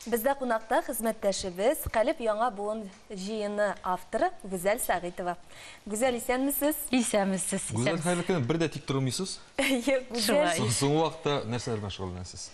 Бездә кунакта хезмәттәшебез, Калеб яңа буын җыены авторы Гүзәл Сәгыйтова. Гүзәл, исәнмесез? Исәнмесез, исәнмесез. Гүзәл, хәерле көн. Бер дә тик тормыйсыз. Әйе, Гүзәл. Шулай. Соң вакытта нәрсәләр белән шөгыльләнәсез?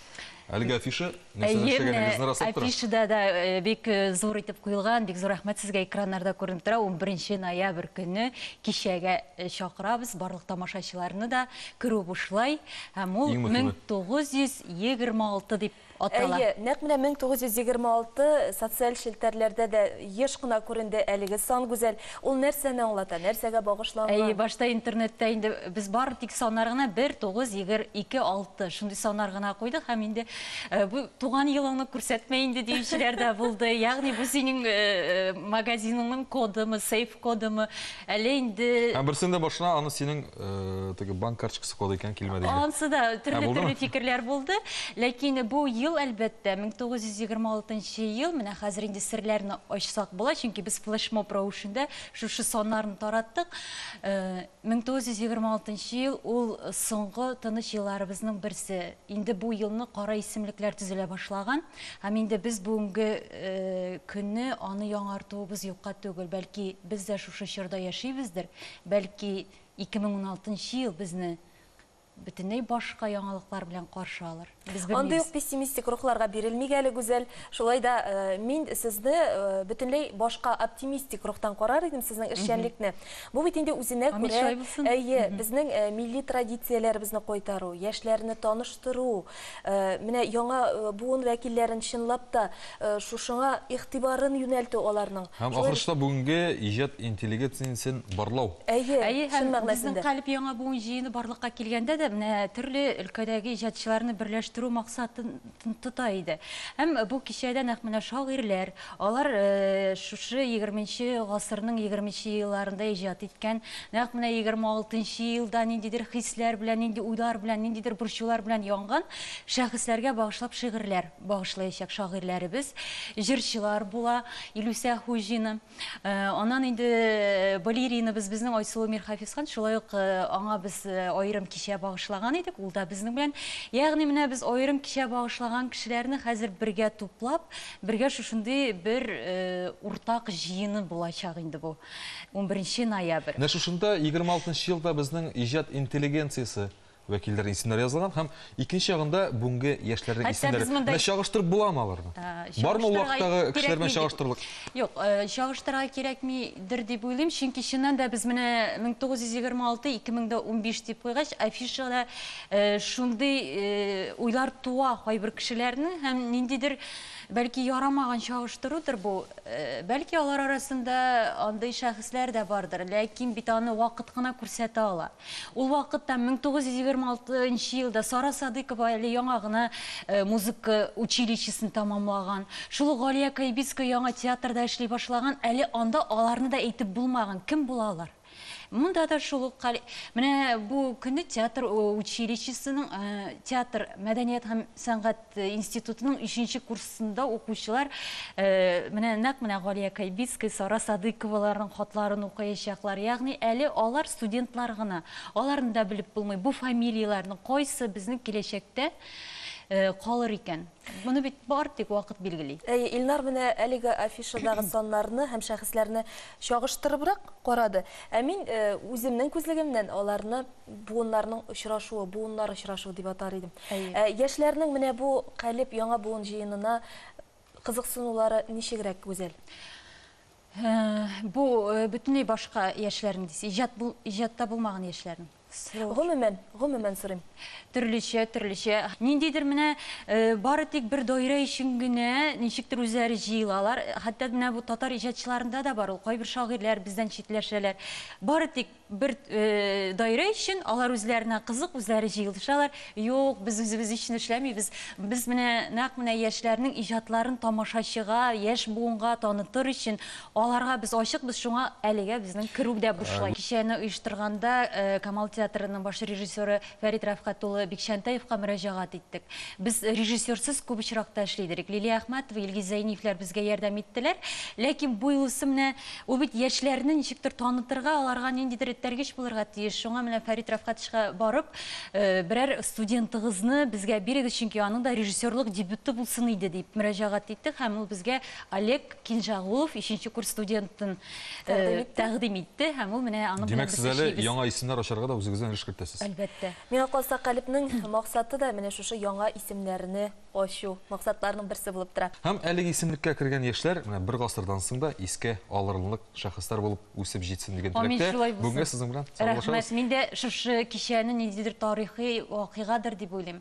Әлеге афиша нәрсәләр эшләгәнегезне раслап тора. Афишада да бик зур итеп куелган, бик зур рәхмәт сезгә, экраннарда күренеп тора. 11 ноябрь көнне кичәгә чакырабыз барлык тамашачыларны да. Керү бушлай һәм ул 1926 дип Атала. Әйе, нәкъ менә 1926 социаль челтәрләрдә дә еш кына күренде әлеге сан, Гүзәл. Ул нәрсәне аңлата, нәрсәгә багышланган? Әйе, башта интернетта инде без бары тик саннар гына, 1, 9, 22, 6, шундый саннар гына куйдык һәм инде бу туган елыңны күрсәтмә инде диючеләр дә булды. Ягъни бу синең магазиныңның кодымы, сейф. кодымы, әллә инде... Һәм берсен дә башына аны синең теге банк карточкасы коды икән килмәде иде. Ансы да төрле-төрле фикерләр булды. Ләкин бу ел, әлбәттә, 1926 ел, менә хәзер инде серләрне ачсак була, чөнки без флешмоб рәвешендә шушы саннарны тараттык. 1926 ел ул соңгы тыныч елларыбызның берсе. Инде бу елны кара исемлекләр төзелә башлаган һәм инде без бүгенге көнне аны яңартуыбыз юкка түгел. Бәлки, без дә шушы чорда яшибездер, бәлки, 2016 ел безне бөтенләй башка яңалыклар белән каршы алыр. Без белмибез. Андый ук пессимистик рухларга бирелмик әле, Гүзәл. Шулай да мин сезне бөтенләй башка оптимистик рухтан карар идем, сезнең эшчәнлекне. Бу бит инде үзенә күрә, әйе, безнең милли традицияләребезне кайтару, яшьләрне таныштыру, Менә яңа буын вәкилләрен чынлап та шушыңа игътибарын юнәлтү аларның. Һәм ахрысы да бүгенге иҗат интеллигецниясен барлау. Әйе, Әйе, чын һәм мәгънәсендә. безнең Калеб яңа буын җыены барлыкка килгәндә дә менә төрле өлкәдәге иҗатчыларны берләштерү максатын тота иде. Һәм бу кичәдә нәкъ менә шагыйрьләр, Алар шушы егерменче гасырның егерменче елларында иҗат иткән, нәкъ менә егерме алтынчы елда ниндидер хисләр белән, нинди уйлар белән, ниндидер борчулар белән янган шәхесләргә багышлап шигырьләр багышлаячак шагыйрьләребез, җырчылар була. Илүсә Хуҗина, аннан инде балеринабыз безнең Айсылу Мирхәфисхан, шулай ук аңа без аерым кичә багышлаган идек, ул да безнең белән. Ягъни менә без аерым кичә багышлаган кешеләрне хәзер бергә туплап, Бергә шушындый бер уртак җыены булачак инде бу, унберенче ноябрь. Менә шушында егерме алтынчы елда безнең иҗат интеллигенциясе вәкилләренең исемнәре язылган һәм икенче ягында бүгенге яшьләрнең исемнәре. Менә чагыштырып буламы аларны? Бармы ул вакыттагы кешеләр белән чагыштырырлык? Юк, чагыштырырга кирәкмидер дип уйлыйм, чөнки чыннан да без менә мең тугыз йөз егерме алты, ике мең дә унбиш дип куйгач, афишада Шундый уйлар туа кайбер кешеләрнең һәм ниндидер, бәлки, ярамаган чагыштырудыр бу. Бәлки, алар арасында андый шәхесләр дә бардыр, ләкин бит аны вакыт кына күрсәтә ала. Ул вакытта, 1926 нчы елда Сара Садыйкова әле яңа гына музыка училищесын тәмамлаган. Шул ук Галия Кайбицкая яңа театрда эшли башлаган, әле анда аларны да әйтеп булмаган. Кем була алар? Монда да шул ук хәл. Менә бу көнне театр училищесының, театр мәдәният һәм сәнгать институтының 3 курсында укучылар менә нәкъ менә Галия Кайбицкая, Сара Садыйковаларның хатларын укыячаклар. Ягъни әле алар студентлар гына. Аларны да белеп булмый, бу фамилияләрнең кайсы безнең киләчәктә калыр икән. Моны бит бар тик вакыт билгели. Әйе, Илнар менә әлеге афишадагы саннарны һәм шәхесләрне чагыштырыбрак карады. Ә мин э, үземнең күзлегемнән аларны буыннарның очрашуы, буыннар очрашуы дип атар идем. Әйе. Э, яшьләрнең менә бу калеб яңа буын җыенына кызыксынулары ничегрәк гүзәл? Э, бу э, бөтенләй башка яшьләрнең дисез, иҗат бул, иҗатта булмаган яшьләрнең. Срочно. Гомумән, гомумән сорыйм. Төрлечә, төрлечә. Ниндидер менә бары тик бер даирә өчен генә ничектер үзләре җыелалар. Хәтта менә бу татар иҗатчыларында да бар ул. Кайбер шагыйрьләр бездән читләшәләр. Бары тик бер даирә өчен алар үзләренә кызык, үзләре җыелышалар. Юк, без үзебез өчен эшләмибез. Без менә нәкъ менә яшьләрнең иҗатларын тамашачыга, яшь буынга танытыр өчен, Аларга без ачыкбыз, шуңа әлегә безнең керү дә бушлай. Кичәне оештырганда Камал театрының баш режиссеры Фәрит Рәфкать улы Бикчәнтәевка мөрәҗәгать иттек. Без режиссерсыз күп очракта эшли идек. Лилия Әхмәтова, Илгиз Зәйниевләр безгә ярдәм иттеләр. Ләкин бу юлысы менә ул бит яшьләрне ничектер танытырга, аларга ниндидер этәргеч булырга тиеш. Шуңа менә Фәрит Рәфкатовичка барып, берәр студентыгызны безгә бирегез, чөнки аның да режиссерлык дебюты булсын иде, дип мөрәҗәгать иттек һәм ул безгә Олег Кинжагулов ишенче курс студентын тәкъдим итте һәм ул менә аны Димәк, сез әле яңа исемнәр ачарга да үзегездән өлеш кертәсез. Әлбәттә. Миңа калса, Калебнең максаты да менә шушы яңа исемнәрне ачу, максатларның берсе булып тора. Һәм әлеге исемлеккә кергән яшьләр менә бер гасырдан соң да искә алырлык шәхесләр булып үсеп җитсен дигән теләктә. Бүгенгә сезнең белән саубуллашабыз. Рәхмәт. Мин дә шушы кичәне ниндидер тарихи вакыйгадыр дип уйлыйм.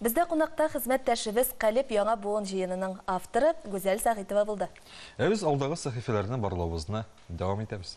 Бездә кунакта хезмәттәшебез Калеб яңа буын җыенының авторы Гүзәл Сәгыйтова булды. Ә без алдагы сәхифәләрне барлавыбызны дәвам итәбез.